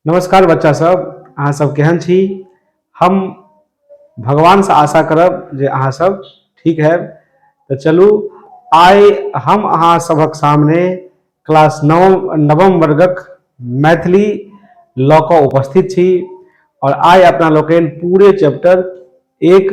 नमस्कार बच्चा सब अहाँ सब केहन छी हम भगवान से आशा करब जे अहाँ सब ठीक है तो चलू आइ हम अहाँ सबक सामने क्लास नव नवम वर्गक मैथिली लऽ कऽ उपस्थित छी और आइ अपना लोकनि पूरे चैप्टर एक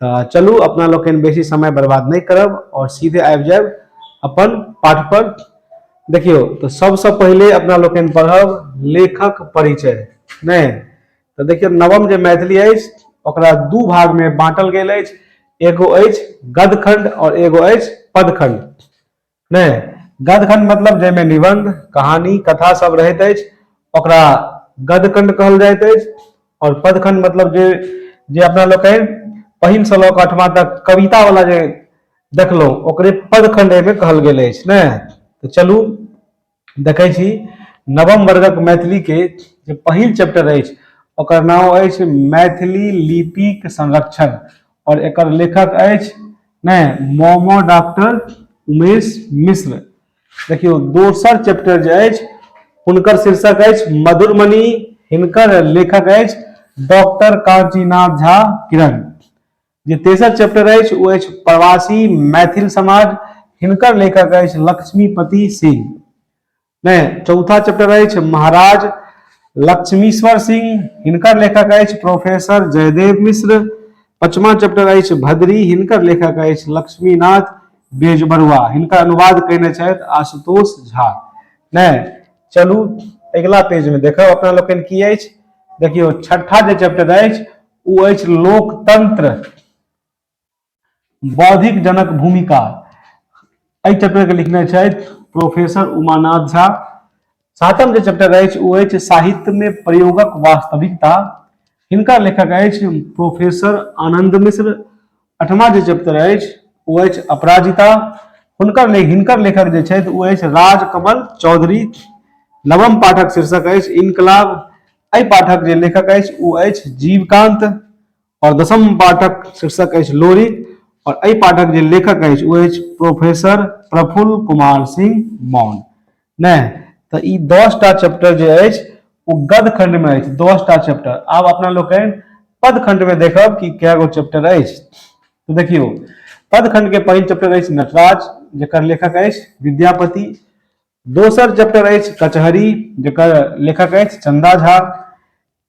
तऽ चलू अपना लोकनि बेसी समय बर्बाद नहि करब आओर सीधे आबि जायब अपन पाठ पर देखियौ तऽ सबसँ पहिले अपना लोकनि पढ़ब लेखक परिचय नहि तऽ देखियौ नवम जे मैथिली अछि ओकरा दू भागमे बाँटल गेल अछि एगो अछि गदखंड आओर एगो अछि पदखंड नहि गदखंड मतलब जाहिमे निबंध कहानी कथा सब रहैत अछि ओकरा गदखंड कहल जाइत अछि आओर पदखंड मतलब जे जे अपना लोकनि पहिल से लऽ कऽ अठमा तक कविता वाला जे देखलहुँ ओकरे पदखंड एहिमे कहल गेल अछि ने तऽ चलू देखै छी नवम वर्गक मैथिलीके जे पहिल चैप्टर अछि ओकर नाम अछि मैथिली लिपिक संरक्षण और एकर लेखक अछि नहि मोमो डॉक्टर उमेश मिश्र देखियौ दोसर चैप्टर जे अछि हुनकर शीर्षक अछि मधुरमणि हिनकर लेखक अछि डॉक्टर कांचीनाथ झा किरण जे तेसर चैप्टर अछि ओ अछि प्रवासी मैथिल समाज हिनकर लेखक अछि लक्ष्मीपति सिंह नहि चौथा चैप्टर अछि महाराज लक्ष्मीश्वर सिंह हिनकर लेखक अछि प्रोफेसर जयदेव मिश्र पचमा चैप्टर अछि भद्री हिनकर लेखक अछि लक्ष्मीनाथ बेजबरुआ हिनकर अनुवाद कयने छथि आशुतोष झा नहि चलू अगिला पेजमे देखब अपना लोकनि की अछि देखियौ छठा जे चैप्टर अछि ओ अछि लोकतंत्र बौद्धिक जनक भूमिका एहि चैप्टर के लिखने छथि प्रोफेसर उमानाथ झा सातम जे चैप्टर अछि ओ अछि साहित्य में प्रयोगक वास्तविकता हिनकर लेखक अछि प्रोफेसर आनंद मिश्र अठमा जे चैप्टर अछि ओ अछि अपराजिता हुनकर ले हिनकर लेखक जे छथि ओ अछि राजकमल चौधरी नवम पाठक शीर्षक अछि इनकलाब एहि पाठक जे लेखक अछि ओ अछि जीवकांत और दसम पाठक शीर्षक अछि लोरी और एहि पाठक जे लेखक अछि ओ अछि प्रोफेसर प्रफुल्ल कुमार सिंह मौन नहि तऽ ई दसटा चैप्टर जे अछि ओ गद खण्डमे अछि दसटा चैप्टर आब अपना लोकनि पद खण्डमे देखब कि कए गो चैप्टर अछि तऽ देखियौ पद खण्डके पहिल चैप्टर अछि नटराज जकर लेखक अछि विद्यापति दोसर चैप्टर अछि कचहरी जकर लेखक अछि चंदा झा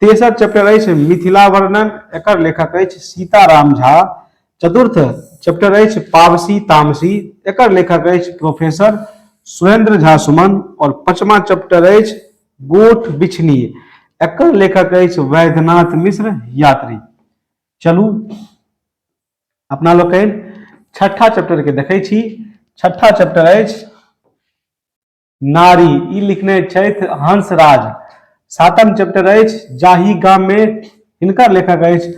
तेसर चैप्टर अछि मिथिला वर्णन एकर लेखक अछि सीताराम झा चतुर्थ चैप्टर अछि पावसी तामसी एकर लेखक अछि प्रोफेसर सुरेंद्र झा सुमन और पचमा चैप्टर अछि गोठ बिछनी एकर लेखक अछि वैद्यनाथ मिश्र यात्री चलू अपना लोक छठा चैप्टर के देखे छी छठा चैप्टर अछि नारी ई लिखने छथि हंसराज सातम चैप्टर अछि जाहि गाम में हिनकर लेखक अछि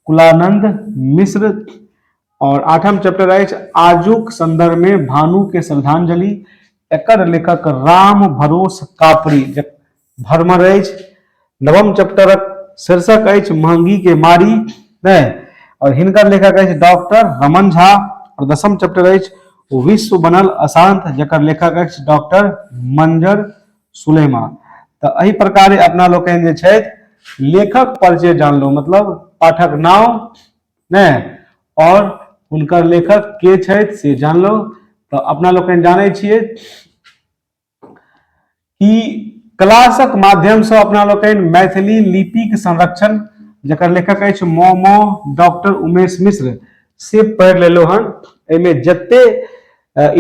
कुलानंद मिश्र और आठम चैप्टर अछि आजुक संदर्भ में भानु के श्रद्धांजलि एकर लेखक राम भरोस कापड़ी भरमर अछि नवम चैप्टरक शीर्षक अछि महंगी के मारी नहि और हिनकर लेखक अछि डॉक्टर रमन झा और दसम चैप्टर अछि विश्व बनल अशांत जकर लेखक अछि डॉक्टर मंजर सुलेमा तऽ एहि प्रकार अपना लोकनि जे छथि लेखक परिचय जानलहुँ मतलब पाठक नाम नहि और हुनकर लेखक के छथि से जानलहुँ तऽ अपना लोकनि जानै छियै कि क्लासक माध्यमसँ अपना लोकनि मैथिली लिपिक संरक्षण जकर लेखक अछि मोमो डॉक्टर उमेश मिश्र से पढ़ि लेलहुँ हन एहिमे जते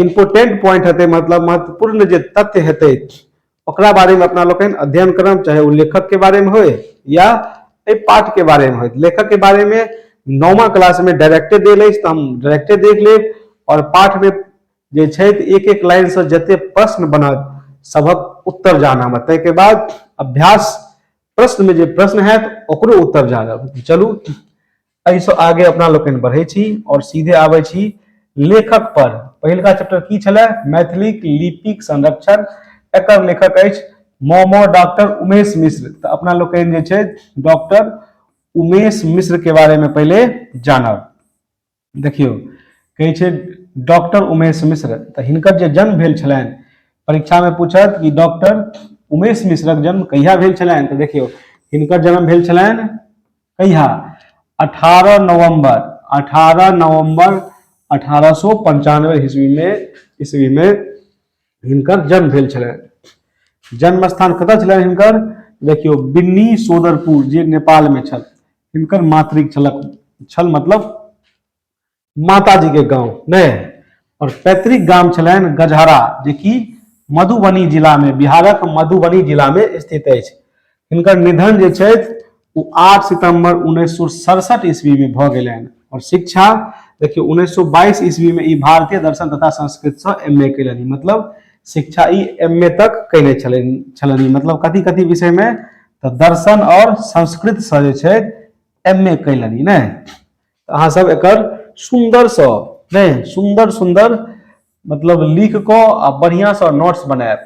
इम्पोर्टेंट पॉइंट हेतै मतलब महत्वपूर्ण जे तथ्य हेतै ओकरा बारेमे अपना लोकनि अध्ययन करब चाहे ओ लेखकके बारेमे होय या एहि पाठके बारेमे होय लेखकके बारेमे नौमा क्लासमे डायरेक्टे देल अछि तऽ हम डायरेक्टे देख लेब आओर पाठमे जे छथि एक एक लाइन से जते प्रश्न बनत सभक उत्तर जानब ताहि के बाद अभ्यास प्रश्न में जे प्रश्न है ओकरो उत्तर जानब चलू एहिसँ आगे अपना लोकनि बढ़ै छी और सीधे आबै छी लेखक पर पहिलका चैप्टर की छलै मैथिलीक लिपिक संरक्षण एकर लेखक अछि मोमो डॉक्टर उमेश मिश्र तऽ अपना लोकनि जे छै डॉक्टर उमेश मिश्र के बारे में पहले जानब देखियौ कहै छै डॉक्टर उमेश मिश्र तऽ हिनकर जे जन्म भेल छलनि परीक्षामे पूछत कि डॉक्टर उमेश मिश्रक जन्म कहिया भेल छलनि तऽ देखियौ हिनकर जन्म भेल छलनि कहिया अठारह नवम्बर अठारह नवम्बर अठारह सए पंचानवे ईस्वीमे ईस्वीमे हिनकर जन्म भेल छलनि जन्म स्थान कतय छलनि हिनकर देखियौ बिन्नी सोदरपुर जे नेपालमे छल हिनकर मातृक छलक छल मतलब माताजीके गाँव नहि आओर पैतृक गाम छलनि गजहरा जेकि मधुबनी जिलामे बिहारक मधुबनी जिलामे स्थित अछि हिनकर निधन जे छथि ओ आठ सितम्बर उन्नैस सए सड़सठ ईस्वीमे भऽ गेलनि आओर शिक्षा देखियौ उन्नैस सए बाईस ईस्वीमे ई भारतीय दर्शन तथा संस्कृतसँ एम ए कयलनि मतलब शिक्षा ई एम ए तक कयने छलनि छलनि मतलब कथी कथी विषयमे तऽ दर्शन आओर संस्कृतसँ जे छै एम ए कयलनि नहि तऽ अहाँसभ एकर सुन्दरसँ नहि सुन्दर सुन्दर मतलब लिख कऽ आ बढ़िआँसँ नोट्स बनायब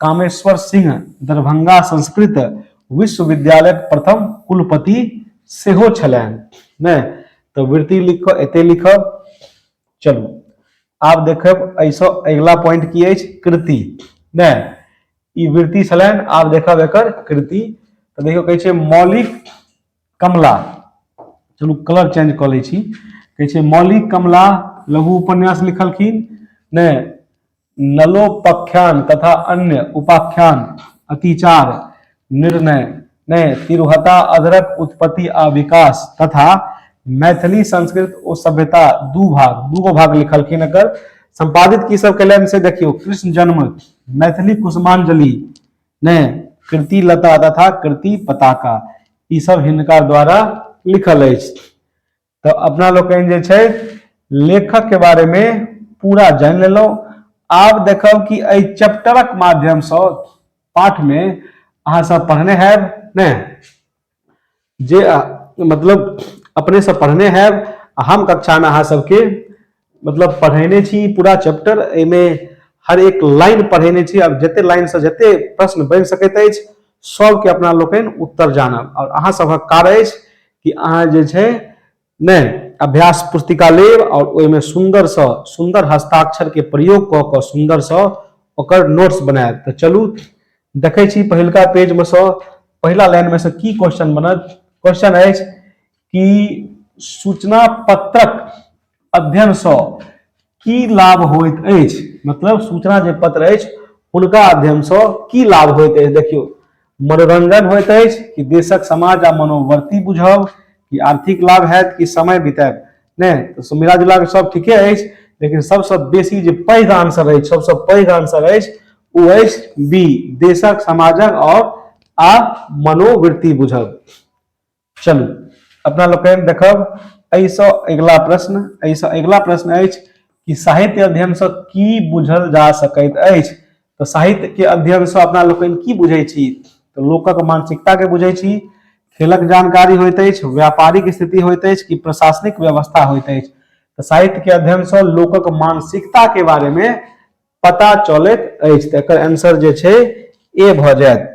कामेश्वर सिंह दरभंगा संस्कृत विश्वविद्यालय प्रथम कुलपति सेहो छलनि नहि तऽ वृत्ति लिख कऽ एते लिखब चलू आब देखब एहिसँ अगिला पॉइंट की अछि कृति नहि ई वृत्ति छलनि आब देखब एकर कृति तऽ देखियौ कहै छै मौलिक कमला चलू कलर चेंज कऽ लै छी कहै छै मौलिक कमला लघु उपन्यास लिखलखिन नहि नलोपख्यान तथा अन्य उपाख्यान अतिचार निर्णय ने तिरुहता अधरक उत्पत्ति आ विकास तथा मैथिली संस्कृत ओ सभ्यता दू भाग दूगो भाग लिखलखिन एकर संपादित की सब कलन से देखियो कृष्ण जन्म मैथिली कुसुमांजलि ने कृति लता तथा कृति पताका ई सब हिनका द्वारा लिखल अछि तऽ अपना लोकनि जे छै लेखक के बारे में पूरा जानि लेलहुँ आब देखब कि एहि चैप्टरक माध्यमसँ पाठमे अहाँसभ पढ़ने हैब ने जे मतलब अपनेसँ पढ़ने हैब आ हम कक्षामे अहाँ सबके मतलब पढ़ेने छी पूरा चैप्टर एहिमे हर एक लाइन पढ़ेने छी आब जते लाइन से जते प्रश्न बन सकैत अछि सबके अपना लोकनि उत्तर जानब और अहाँ सबक कार्य अछि कि अहाँ जे छै नहि अभ्यास पुस्तिका लेब और ओहिमे सुंदर से सुंदर हस्ताक्षर के प्रयोग कऽ कऽ सुंदर से ओकर नोट्स बनायब तऽ चलू देखै छी पहिलका पेज में से पहिला लाइन में से की क्वेश्चन बनत क्वेश्चन अछि कि सूचना पत्रक अध्ययनसँ की लाभ होइत अछि मतलब सूचना जे पत्र अछि हुनका अध्ययनसँ की लाभ होइत अछि देखियौ मनोरंजन होइत अछि कि देशक समाज आ मनोवर्ती बुझब कि आर्थिक लाभ हैत कि समय बितायब नहि तऽ मिला जुला कऽ सभ ठीके अछि लेकिन सभसँ बेसी जे पैघ आंसर अछि सभसँ पैघ आंसर अछि ओ अछि बी देशक समाजक आओर आ मनोवृत्ति बुझब चलू अपना लोग देखब ऐसा अगला प्रश्न ऐसा अगला प्रश्न है कि साहित्य अध्ययन से की बुझल जा सकैत अछि तो साहित्य के अध्ययन से अपना लोग की बुझे छी तो लोकक मानसिकता के बुझे छी खेलक जानकारी होइत अछि व्यापारिक स्थिति होइत अछि कि प्रशासनिक व्यवस्था होइत अछि तो साहित्य के अध्ययन से लोकक मानसिकता के बारे में पता चलत आंसर जो ए भ जायत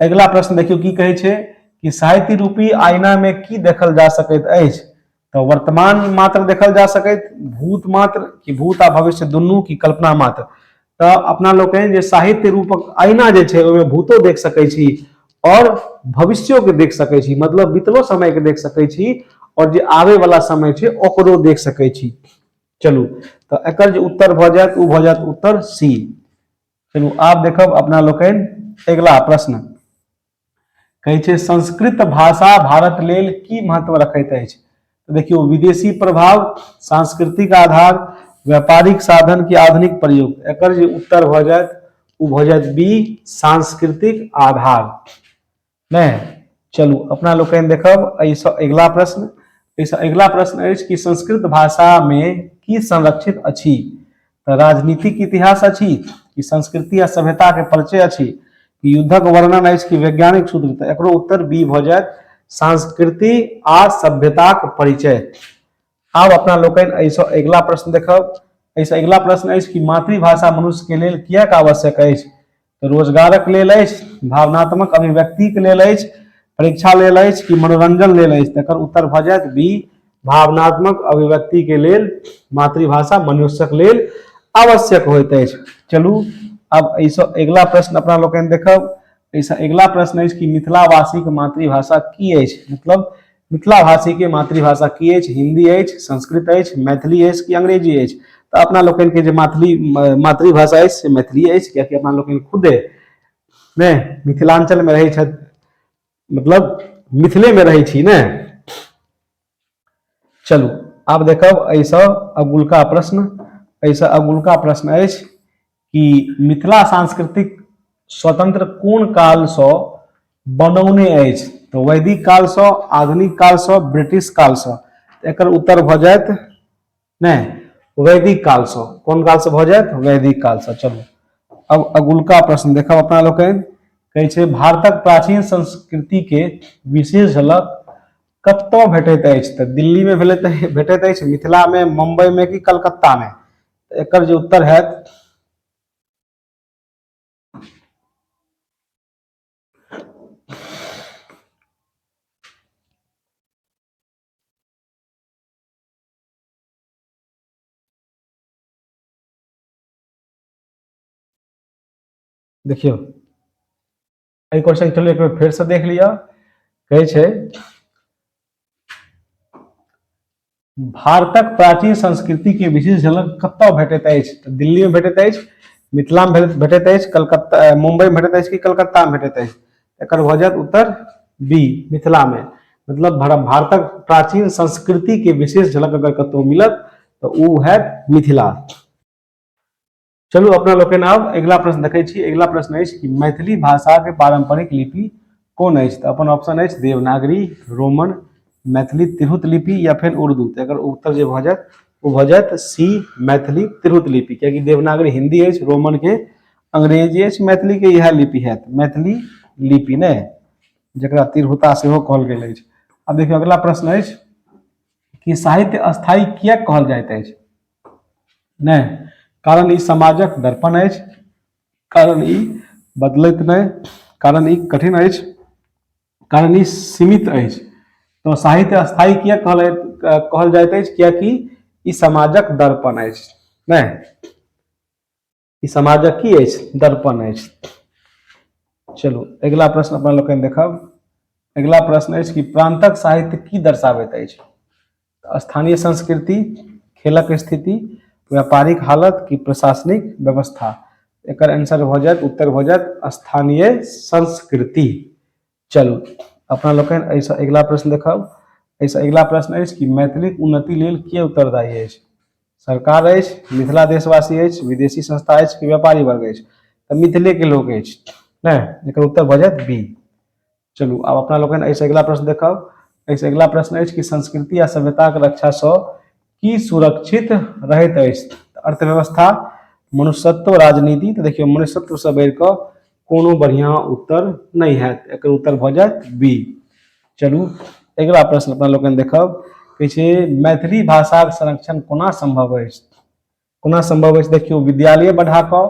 अगिला प्रश्न देखियौ की कहै छै कि साहित्य रूपी आईना में की देखल जा सकैत अछि तऽ वर्तमान मात्र देखल जा सकैत भूत मात्र कि भूत आ भविष्य दुनू की कल्पना मात्र तऽ अपना लोकनि जे साहित्य रूपक आईना जे छै ओहिमे भूतो देख सकै छी आओर भविष्यो के देख सकै छी मतलब बीतलो समय के देख सकै छी आओर जे आबे वाला समय छै ओकरो देख सकै छी चलू तऽ एकर जे उत्तर भऽ जायत ओ भऽ जायत उत्तर सी चलू आब देखब अपना लोकनि अगिला प्रश्न कहै छै संस्कृत भाषा भारत लेल की महत्व रखैत अछि तो देखियो विदेशी प्रभाव सांस्कृतिक आधार व्यापारिक साधन के आधुनिक प्रयोग एक उत्तर भ जाए वो भ जाए बी सांस्कृतिक आधार नहि चलू अपना लोकनि देखब एहिसँ अगिला प्रश्न एहिसँ अगिला प्रश्न अछि कि संस्कृत भाषामे की संरक्षित अछि तऽ राजनीतिक इतिहास अछि कि संस्कृति आ सभ्यताके परिचय अछि कि युद्धक वर्णन अछि कि वैज्ञानिक सूत्र तऽ एकरो उत्तर बी भऽ जायत संस्कृति आ सभ्यताक परिचय आब अपना लोकनि एहिसँ अगिला प्रश्न देखब एहिसँ अगिला प्रश्न अछि कि मातृभाषा मनुष्यके लेल किएक आवश्यक अछि तऽ रोजगारक लेल अछि भावनात्मक अभिव्यक्तिक लेल अछि परीक्षा लेल अछि कि मनोरंजन लेल अछि तकर उत्तर भऽ जायत बी भावनात्मक अभिव्यक्तिके लेल मातृभाषा मनुष्यक लेल आवश्यक होइत अछि चलू आब एहिसँ अगिला प्रश्न अपना लोकनि देखब एहिसँ अगिला प्रश्न अछि कि मिथिलावासीके मातृभाषा की अछि मतलब मिथिलाभाषीके मातृभाषा की अछि हिंदी अछि संस्कृत अछि मैथिली अछि कि अंग्रेजी अछि तऽ अपना लोकनिके जे मैथिली मातृभाषा अछि से मैथिली अछि कियाकि अपना लोकनि खुदे ने मिथिलाञ्चलमे रहै छथि मतलब मिथिलेमे रहै छी ने चलू आब देखब एहिसँ अगुलका प्रश्न एहिसँ अगुलका प्रश्न अछि कि मिथिला सांस्कृतिक स्वतंत्र कोन कालसँ बनौने अछि तऽ वैदिक कालसँ आधुनिक कालसँ ब्रिटिश कालसँ एकर उत्तर भऽ जायत नहि वैदिक कालसँ कोन कालसँ भऽ जायत वैदिक कालसँ चलू अब अगुलका प्रश्न देखब अपना लोकनि कहै छै भारतक प्राचीन संस्कृतिके विशेष झलक कतय भेटैत अछि तऽ दिल्लीमे भेलै तऽ भेटैत अछि मिथिलामे मुम्बईमे कि कलकत्तामे एकर जे उत्तर हैत देखियौ एहि क्वेश्चन के एक बेर से देख लिया कहे छे भारतक प्राचीन संस्कृति के विशेष झलक कत भेटत अछि दिल्ली में भेटत अछि मिथिला में भेटत अछि कलकत्ता मुंबई में भेटत अछि कि कलकत्ता में भेटत अछि एकर भऽ जायत उत्तर बी मिथिला में मतलब भारतक प्राचीन संस्कृति के विशेष झलक अगर कतौ मिलत तो ओ है मिथिला चलू अपना लोकनि आब अगिला प्रश्न देखै छी अगिला प्रश्न अछि कि मैथिली भाषाके पारम्परिक लिपि कोन अछि तऽ अपन ऑप्शन अछि देवनागरी रोमन मैथिली तिरहुत लिपि या फिर उर्दू तऽ एकर उत्तर जे भऽ जायत ओ भऽ जायत सी मैथिली तिरहुत लिपि कियाकि देवनागरी हिन्दी अछि रोमनके अंग्रेजी अछि मैथिली के इएह लिपि हैत मैथिली लिपि ने जकरा तिरहुता सेहो कहल गेल अछि आब देखियौ अगला प्रश्न अछि कि साहित्य स्थायी किए कहल जाइत अछि नहि कारण ई समाजक दर्पण अछि कारण ई बदलैत नहि कारण ई कठिन अछि कारण ई सीमित अछि तो साहित्य स्थायी किए कहल कहल जाइत अछि किएकि ई समाजक दर्पण अछि नहि ई समाजक की अछि दर्पण अछि चलू अगिला प्रश्न अपना लोकनि देखब अगिला प्रश्न अछि कि प्रान्तक साहित्य की दर्शाबैत अछि स्थानीय संस्कृति खेलक स्थिति व्यापारिक हालत कि प्रशासनिक व्यवस्था एकर आंसर भऽ जायत उत्तर भऽ जायत स्थानीय संस्कृति चलू अपना लोकनि एहिसँ अगिला प्रश्न देखब एहिसँ अगिला प्रश्न अछि कि मैथिलीक उन्नति लेल के उत्तरदायी अछि सरकार अछि मिथिला देशवासी अछि विदेशी संस्था अछि कि व्यापारी वर्ग अछि तऽ मिथिलेके लोक अछि ने एकर उत्तर भऽ जायत बी चलू आब अपना लोकनि एहिसँ अगिला प्रश्न देखब एहिसँ अगिला प्रश्न अछि कि संस्कृति आ सभ्यताक रक्षासँ की सुरक्षित रहैत अछि अर्थव्यवस्था मनुष्यत्व राजनीति तऽ देखियौ मनुष्यत्वसँ बढ़ि कऽ कोनो बढ़िआँ उत्तर नहि हैत एकर उत्तर भऽ जायत बी चलू अगिला प्रश्न अपना लोकनि देखब कहै छै मैथिली भाषाक संरक्षण कोना सम्भव अछि कोना संभव अछि देखियौ विद्यालय बढ़ा कऽ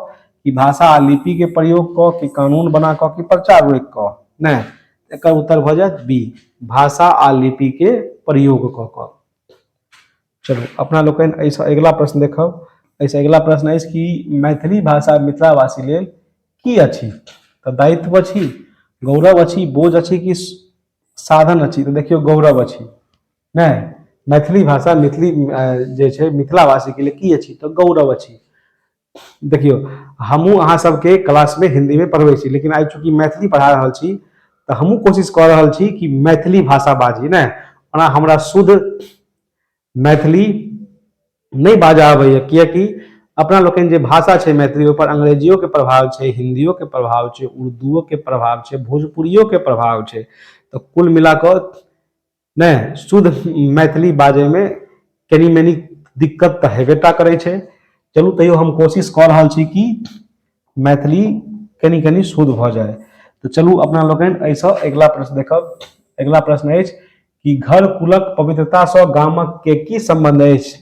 कि भाषा आ लिपि के प्रयोग कऽ कि कानून बना कऽ कि प्रचार रोकि कऽ नहि एकर उत्तर भऽ जायत बी भाषा आ लिपि के प्रयोग कऽ कऽ चलू अपना लोकनि एहिसँ अगिला प्रश्न देखब एहिसँ अगिला प्रश्न अछि कि मैथिली भाषा मिथिलावासी लेल की अछि तऽ दायित्व अछि गौरव अछि बोझ अछि कि साधन अछि तऽ देखियौ गौरव अछि नहि मैथिली भाषा मैथिली जे छै मिथिलावासीके लिए की अछि तऽ गौरव अछि देखियौ हमहूँ अहाँ सबके क्लासमे हिन्दीमे पढ़बै छी लेकिन आइ चूँकि मैथिली पढ़ा रहल छी तऽ हमहूँ कोशिश कऽ रहल छी कि मैथिली भाषा बाजी नहि ओना हमरा शुद्ध मैथिली नहि बाजऽ अबैए किएकि अपना लोकनि जे भाषा छै मैथिली ओहिपर अंग्रेजियोके प्रभाव छै हिन्दियोके प्रभाव छै उर्दूओके प्रभाव छै भोजपुरियोके प्रभाव छै तऽ कुल मिला कऽ नहि शुद्ध मैथिली बाजैमे कनी मनी दिक्कत तऽ हेबे टा करै छै चलू तैयो हम कोशिश कऽ रहल छी कि मैथिली कनी कनी शुद्ध भऽ जाय तऽ चलू अपना लोकनि एहिसँ अगिला प्रश्न देखब अगिला प्रश्न अछि कि घर कुलक पवित्रतासँ गामक के की सम्बन्ध अछि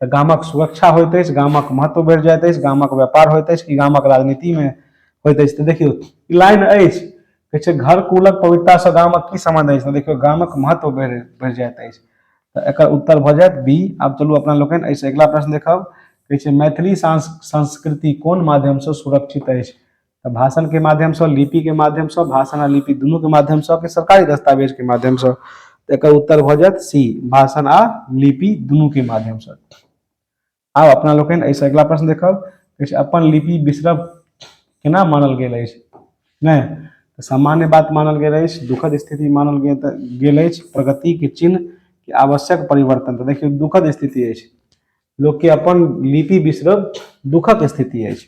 तऽ गामक सुरक्षा होइत अछि गामक महत्व बढ़ि जाइत अछि गामक व्यापार होइत अछि कि गामक राजनीतिमे होइत अछि तऽ देखियौ ई लाइन अछि कहै छै घर कुलक पवित्रतासँ गामक की सम्बन्ध अछि तऽ देखियौ गामक महत्व बढ़ि बढ़ि जाइत अछि तऽ एकर उत्तर भऽ जायत बी आब चलू अपना लोकनि एहिसँ अगिला प्रश्न देखब कहै छै मैथिली सांस संस्कृति कोन माध्यमसँ सुरक्षित अछि तऽ भाषणके माध्यमसँ लिपिके माध्यमसँ भाषण आओर लिपि दुनूके माध्यमसँ कि सरकारी दस्तावेजके माध्यमसँ तऽ एकर उत्तर भऽ जायत सी भाषण आ लिपि दुनूके माध्यमसँ आब अपना लोकनि एहिसँ अगिला प्रश्न देखब किछु अपन लिपि बिसरब केना मानल गेल अछि नहि तऽ सामान्य बात मानल गेल अछि दुखद स्थिति मानल गेल तऽ गेल अछि प्रगतिके चिन्ह कि आवश्यक परिवर्तन तऽ देखियौ दुखद स्थिति अछि लोकके अपन लिपि बिसरब दुखक स्थिति अछि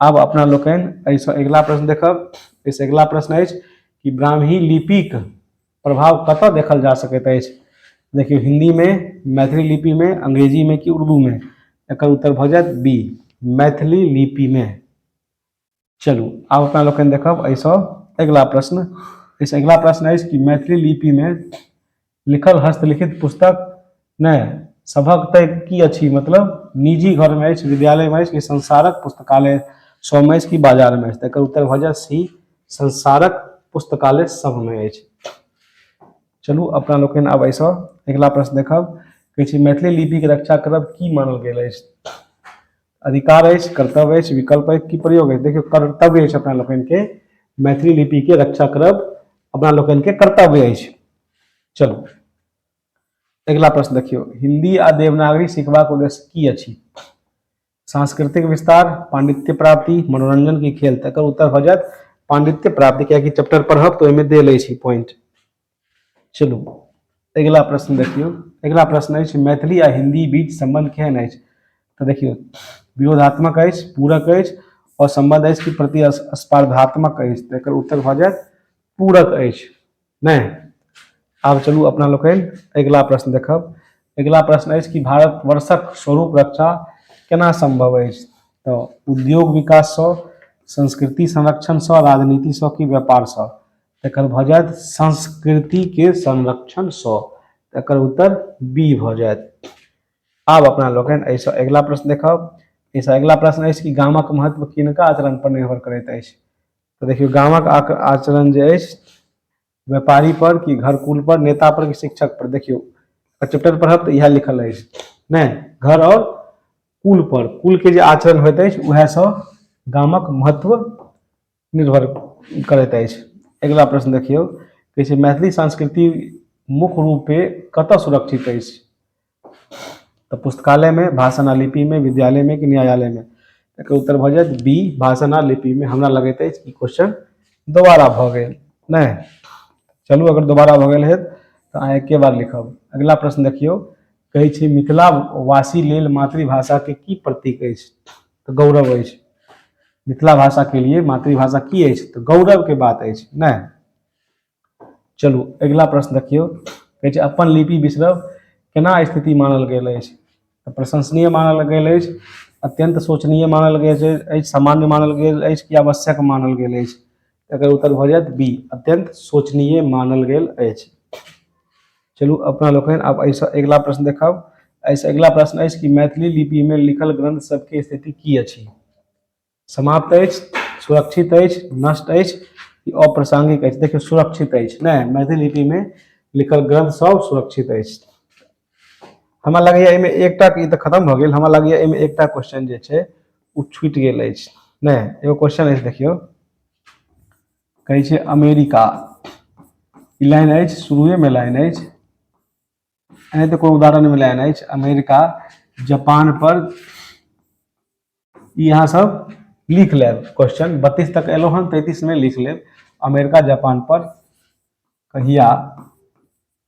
आब अपना लोकनि एहिसँ अगिला प्रश्न देखब एहिसँ अगिला प्रश्न अछि कि ब्राह्मी लिपिक प्रभाव कतय देखल जा सकैत अछि देखियौ हिन्दीमे मैथिली लिपिमे अंग्रेजीमे कि उर्दूमे एकर उत्तर भऽ जायत बी मैथिली लिपिमे चलू आब अपना लोकनि देखब एहिसँ अगिला प्रश्न एहिसँ अगिला प्रश्न अछि कि मैथिली लिपिमे लिखल हस्तलिखित पुस्तक नहि सभक तय की अछि मतलब निजी घर में अछि विद्यालय में अछि कि संसारक पुस्तकालय सभ अछि कि बाजार में अछि तकर उत्तर भऽ जाय सी संसारक पुस्तकालय सभ में अछि चलू अपना लोकनि आब एहिसँ अगिला प्रश्न देखब कहै छै मैथिली लिपिके रक्षा करब की मानल गेल अछि अधिकार अछि कर्तव्य अछि विकल्प अछि की प्रयोग अछि देखियौ कर्तव्य अछि अपना लोकनिके मैथिली लिपिके रक्षा करब अपना लोकनिके कर्तव्य अछि चलू अगिला प्रश्न देखियौ हिंदी आ देवनागरी सिखबाक उद्देश्य की अछि सांस्कृतिक विस्तार पांडित्य प्राप्ति मनोरंजन की खेल तकर उत्तर भऽ जायत पांडित्य प्राप्ति कियाकि चैप्टर पढ़ब तऽ ओहिमे देल अछि पॉइंट चलू अगिला प्रश्न देखियौ अगिला प्रश्न अछि मैथिली आ हिंदी बीच संबंध केहन अछि तऽ देखियौ विरोधात्मक अछि पूरक अछि और संबंध अछि कि प्रतिस्पर्धात्मक अछि तऽ एकर उत्तर भऽ जायत पूरक अछि नहि आब चलू अपना लोकनि अगिला प्रश्न देखब अगिला प्रश्न अछि कि भारतवर्षक स्वरूप रक्षा केना संभव अछि तऽ उद्योग विकाससँ संस्कृति संरक्षणसँ राजनीतिसँ कि व्यापारसँ एकर भऽ जायत संस्कृति के संरक्षण स एकर उत्तर बी भऽ जायत आब अपना लोकनि एहिसँ अगिला प्रश्न देखब एहिसँ अगिला प्रश्न अछि कि गामक महत्व किनका आचरण पर निर्भर करैत अछि तऽ देखियौ गामक आचरण जे अछि व्यापारी पर कि घरकुल पर नेता पर कि शिक्षक पर देखियौ चैप्टर पढ़ब तऽ इएह लिखल अछि नहि घर आओर कुल पर कुल के जे आचरण होइत अछि उएहसँ गामक महत्व निर्भर करैत अछि अगिला प्रश्न देखियौ कहै छै मैथिली संस्कृति मुख्य रूपे कतय सुरक्षित अछि तऽ पुस्तकालयमे भाषण आ लिपिमे विद्यालयमे कि न्यायालयमे एकर उत्तर भऽ जायत बी भाषण आ लिपिमे हमरा लगैत अछि ई क्वेश्चन दोबारा भऽ गेल नहि चलू अगर दोबारा भऽ गेल हेत तऽ अहाँ एके बार लिखब अगिला प्रश्न देखियौ कहै छै मिथिला वासी लेल मातृभाषाके की प्रतीक अछि तऽ गौरव अछि मिथिला भाषाके लिए मातृभाषा की अछि तऽ गौरवके बात अछि नहि चलू अगिला प्रश्न देखियौ कहै छै अपन लिपि बिसरब केना स्थिति मानल गेल अछि तऽ प्रशंसनीय मानल गेल अछि अत्यंत शोचनीय मानल गेल अछि सामान्य मानल गेल अछि कि आवश्यक मानल गेल अछि एकर उत्तर भऽ जायत बी अत्यंत शोचनीय मानल गेल अछि चलू अपना लोकनि आब एहिसँ अगिला प्रश्न देखब एहिसँ अगिला प्रश्न अछि कि मैथिली लिपिमे लिखल ग्रंथ सबके स्थिति की अछि समाप्त अछि सुरक्षित अछि नष्ट अछि कि अप्रासंगिक अछि देखियौ सुरक्षित अछि नहि मैथिली लिपिमे लिखल ग्रंथ सब सुरक्षित अछि हमरा लगैए एहिमे एकटा ई तऽ खतम भऽ गेल हमरा लगैए एहिमे एकटा क्वेश्चन जे छै ओ छूटि गेल अछि नहि एगो क्वेश्चन अछि देखियौ कहै छै अमेरिका ई लाइन अछि शुरुएमे लाइन अछि एनाहिते तऽ कोनो उदाहरणमे लाइन अछि अमेरिका जापान पर ई अहाँ सब लिख लेब क्वेश्चन बत्तीस तक एलो हन तैतीस में लिख लेब अमेरिका जापान पर कहिया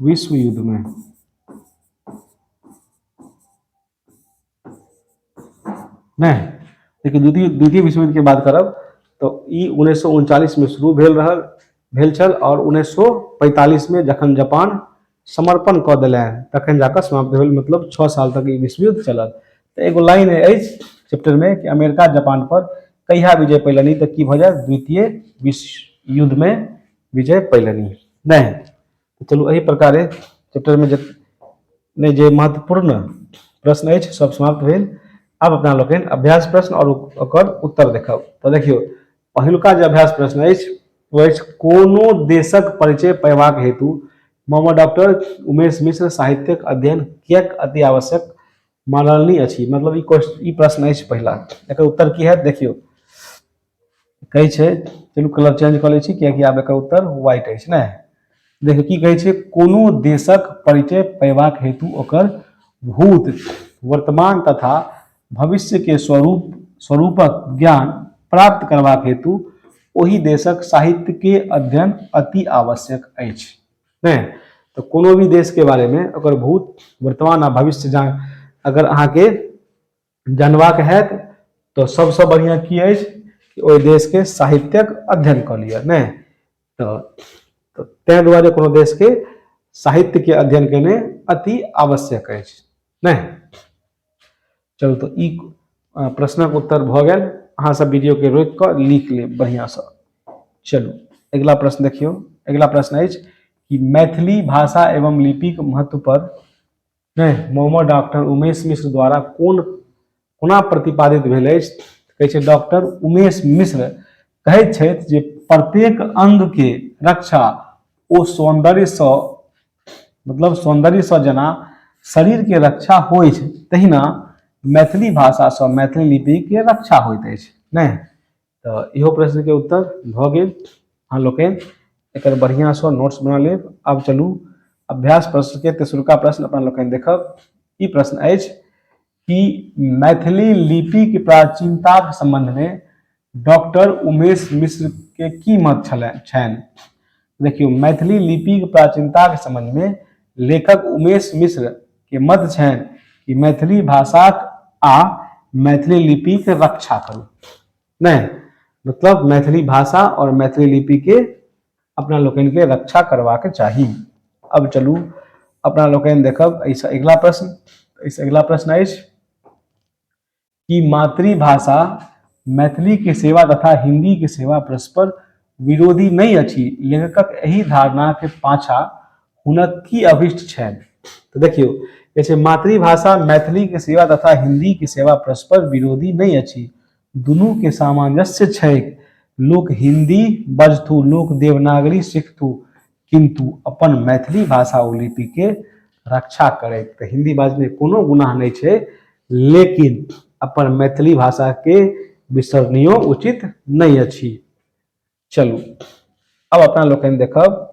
विश्व युद्ध में नहीं लेकिन द्वितीय द्वितीय विश्व युद्ध के बात करब तो ई उन्नीस में शुरू भेल रहल भेल छल और उन्नीस में जखन जापान समर्पण कऽ दिल तखन जाकर समाप्त भेल मतलब छः साल तक ई विश्व युद्ध चलल तो एगो लाइन है चैप्टर में कि अमेरिका जापान पर कहिया विजय पैलनि तो की भऽ जाय द्वितीय विश्व युद्ध में विजय पैलनि नहि तऽ चलू एहि प्रकारे चैप्टरमे जे नहि जे महत्वपूर्ण प्रश्न अछि सब समाप्त भेल आब अपना लोकनि अभ्यास प्रश्न आओर ओकर उत्तर देखब तऽ देखियौ पहिलुका जे अभ्यास प्रश्न अछि ओ अछि कोनो देशक परिचय पयबाक हेतु मामा डॉक्टर उमेश मिश्र साहित्यक अध्ययन किएक अति आवश्यक मानलनी अछि मतलब ई क्वेश्चन ई प्रश्न अछि पहिला एकर उत्तर की हैत देखियौ कहै छै चलू कलर चेंज कऽ लै छी कियाकि आब एकर उत्तर व्हाइट अछि ने देखियौ की कहै छै कोनो देशक परिचय पयबाक हेतु ओकर भूत वर्तमान तथा भविष्यके स्वरूप स्वरूपक ज्ञान प्राप्त करबाक हेतु ओहि देशक साहित्यके अध्ययन अति आवश्यक अछि ने तऽ कोनो भी देशके बारेमे ओकर भूत वर्तमान आ भविष्य जान अगर अहाँके जानबाक हैत तऽ सभसँ बढ़िआँ की अछि कि ओहि देशके साहित्यक अध्ययन कऽ लिअ नहि तऽ तऽ ताहि दुआरे कोनो देशके साहित्यके अध्ययन केने अति आवश्यक अछि नहि चलू तऽ ई प्रश्नक उत्तर भऽ गेल अहाँसभ वीडियोके रोकि कऽ लिख लेब बढ़िआँसँ चलू अगिला प्रश्न देखियौ अगिला प्रश्न अछि कि मैथिली भाषा एवं लिपिक महत्व पर नहि मोहम्मद डॉक्टर उमेश मिश्र द्वारा कोन कोना प्रतिपादित भेल अछि कहै छै डॉक्टर उमेश मिश्र कहैत छथि जे प्रत्येक अङ्गके रक्षा ओ सौन्दर्यसँ मतलब सौन्दर्यसँ जेना शरीरके रक्षा होइ छै तहिना मैथिली भाषासँ मैथिली लिपिके रक्षा होइत अछि नहि तऽ इहो प्रश्नके उत्तर भऽ गेल अहाँ लोकनि एकर बढ़िआँसँ नोट्स बना लेब आब चलू अभ्यास प्रश्नके तेसरका प्रश्न अपना लोकनि देखब ई प्रश्न अछि कि मैथिली लिपिके प्राचीनताके सम्बन्धमे डॉक्टर उमेश मिश्रके की मत छलनि छनि देखियौ मैथिली लिपिक प्राचीनताक समझमे लेखक उमेश मिश्र के मत छनि कि मैथिली भाषाक आ मैथिली लिपिक रक्षा करू नहि मतलब मैथिली भाषा और मैथिली लिपि के अपना लोकनि के रक्षा करबाक चाही अब चलू अपना लोकनि देखब एहिसँ अगिला प्रश्न एहिसँ अगिला प्रश्न अछि कि मातृभाषा मैथिली के सेवा तथा हिंदी के सेवा परस्पर विरोधी नहि अछि लेखकक एहि धारणा के पाछा हुनक की अभिष्ट छनि तो देखियो जैसे मातृभाषा मैथिली के सेवा तथा हिंदी के सेवा परस्पर विरोधी नहि अछि दुनू के सामंजस्य छैक लोक हिंदी बजथु लोक देवनागरी सीखथु किन्तु अपन मैथिली भाषा ओ लिपिके रक्षा करैत तऽ हिन्दी बाजने कोनो गुनाह नहि छै लेकिन अपन मैथिली भाषाके बिसरनियो उचित नहि अछि चलू अब अपना लोकनि देखब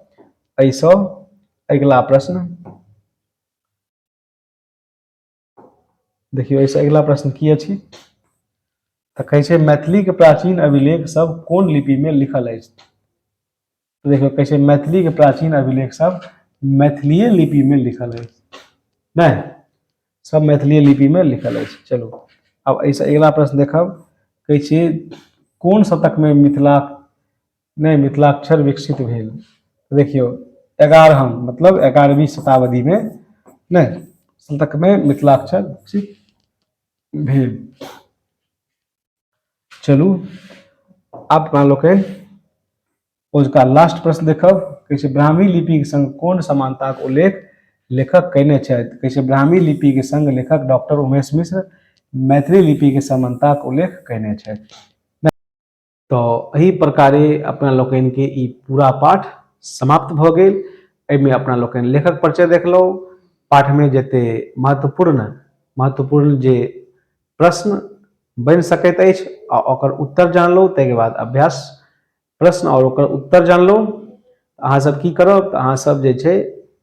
एहिसँ अगिला प्रश्न देखियौ एहिसँ अगिला प्रश्न की अछि तऽ कहै छै मैथिलीके प्राचीन अभिलेख सब कोन लिपिमे लिखल अछि तऽ देखियौ कहै छै मैथिलीके प्राचीन अभिलेख सब मैथिलीय लिपिमे लिखल अछि नहि सब मैथिलीय लिपिमे लिखल अछि चलू आब एहिसँ अगिला प्रश्न देखब कहै छियै कोन शतकमे मिथिला नहि मिथिलाक्षर विकसित भेल देखियौ एगारहम मतलब एगारहवीं शताब्दीमे नहि शतकमे मिथिलाक्षर विकसित भेल चलू आब अपना लोकनि ओजुका लास्ट प्रश्न देखब कहै छै ब्राह्मी लिपिक संग कोन समानताक उल्लेख लेखक कयने छथि कहै छै ब्राह्मी लिपिक संग लेखक डॉक्टर उमेश मिश्र मैथिली लिपिक समानताक उल्लेख कयने छथि तो एहि प्रकारे अपना लोकन के ई पूरा पाठ समाप्त भ गेल एहिमे अपना लोकन लेखक परिचय देखलहुँ पाठ में जते महत्वपूर्ण महत्वपूर्ण जे प्रश्न बन सकैत अछि आ ओकर उत्तर जानलहुँ ताहिके बाद अभ्यास प्रश्न और ओकर उत्तर जानलहुँ अहाँ सब की करब तऽ अहाँ सब जे छै